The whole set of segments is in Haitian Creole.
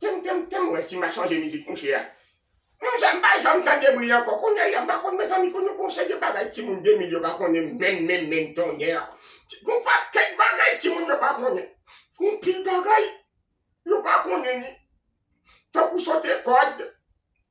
Tem tem tem mwen si ma chanje mizik mouche a Mon chè mpa janm tande bri ankò kounyè ya mpa konn mezanmi konn yon konsè de bagay timoun 2000 yo pa konnen menm menm menm tonnè gon pakèt bagay timoun yo pa konnen gon pil bagay yo pa konnen ni tankou sote kòd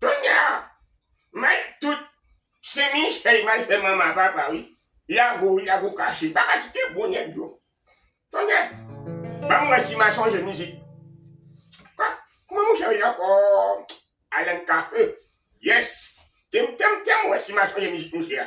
Kounya may tout se Michey may fè manman papa wi lago wi lago kache paka kite bon nèg yo kounya banm wè si ma chanje mizik kman mouche rele ankò Alan Cafe yes tem tem tem wè si ma chanje mizik mouche a.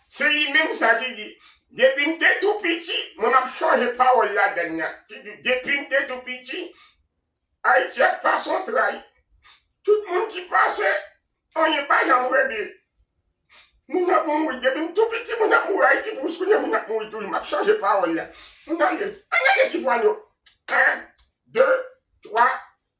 Se li menm sa ki di, Depi m te tou piti, mwen m ap chanje pawòl ladann nan, ki di, Depi m te tou piti, Ayiti ap pase yon tray. Tout moun ki pase, anyen pa janm regle. Moun ap mouri. Depi m tou piti, moun ap mouri. Ayiti pou jiskounye a, moun ap mouri toujou. M ap chanje pawòl la. Ann ale, ann ale Sifwano. 1, 2, 3,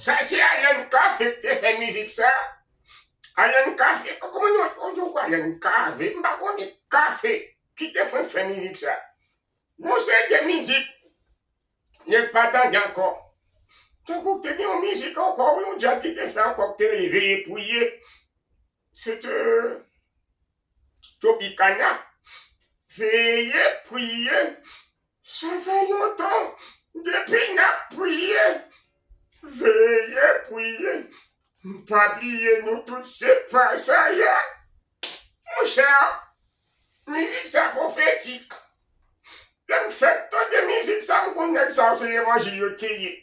Sa se Alan Cavé ki te fè mizik sa. Alan Cavé, kòman nou ap di yon kou Alan Cavé, m pa konnen, Cavé ki te fenk fè mizik sa. Gon seri de mizik nèg pa tande ankò. Tankou te gen yon mizik ankò wi yon djaz li te fè ankò ki te rele Veye Priye, se te Tropicana veye priye sa fè lontan depi nap priye veye priye pa bliye nou tout se pasaje monchè mizik sa profetik lèm fèk tande mizik sa mkonn nèg sa yo se levanjil yo teye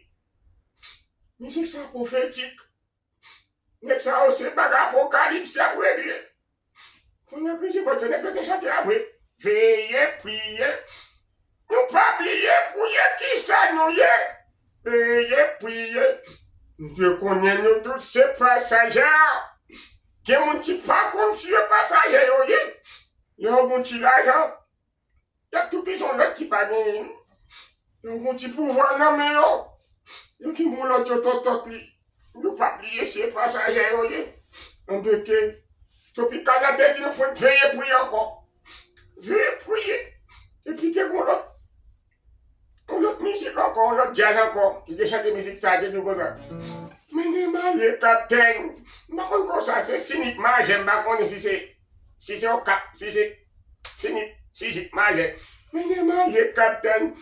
mizik sa profetik. Nèg sa yo se bagay apokalips yap regle. Fon yo krize bòt yo nèg yo te chante a vre. Veye priye Nou pa bliye pou ye kisa Nou ye Veye priye Bndye konnen nou tout se pasaje Gen moun ki pa konn si yo pasaje yo ye Lè yo gen yon ti lajan Yap tou pijon lot ki pa genyen. Yo gon ti pouvwa nan men yo. Yo ki bon lot yo totot li. Nou pa bliye se pasaje yo ye. An de ke Topicana te di nou fout veye pou yo anko. Veye pou ye. Epi te gon lot. Yon lòt mizik ankò, yon lòt djaz ankò ki te chante mizik sa te di konsa, Men gen malye kaptenn, m pa konn kò sa se si ni t majè, m pa konnen si se si se yon kap, si se si ni si ji t majè, men gen malye kaptenn,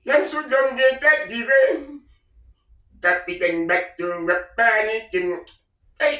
lè m sou dlo m gen tèt vire, kapitèn bato a panike m, ey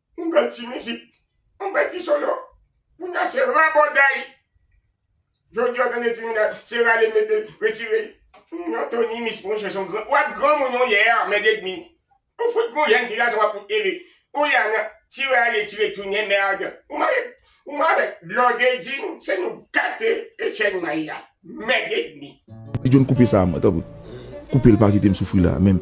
Yon bèl ti mizik, yon bèl ti solo. Kounye a se rabòday. Jodi a w tande Trinidad, se rale l mete l, retire l. Yon Tony Miss monchè son gran, wap granmoun yon lè a mèd edmi. Ou fout gon jèn ti gason wap fout ele. Ou la nan ti rale tire tounen mèrd. Ou mare, ou mare dlo dedin se nou gate e chèn may la. Mèd edmi. Ti John koupe sa a mwen tanpri. Koupe l pa kite m soufri la a menm.